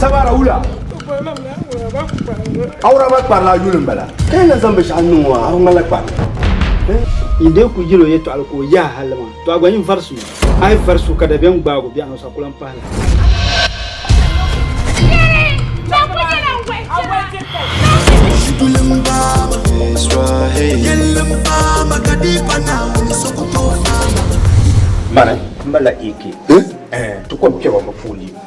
Sabara wula? Awuraba kparila a yuli m-bala. Ka yi na zaŋ binshɛɣu n-niŋ o a, a bi ŋmanila kpari. Yi dee ku yil o yɛtɔɣili ka o yaai hali maa, tɔ a gba yin vari su ni. A yi vari su ka dabiɛm gbaag o biɛɣuni, o sa ku lan pahi la. Mani m-bala AK. Ti kɔŋ kpɛbu mi puuni.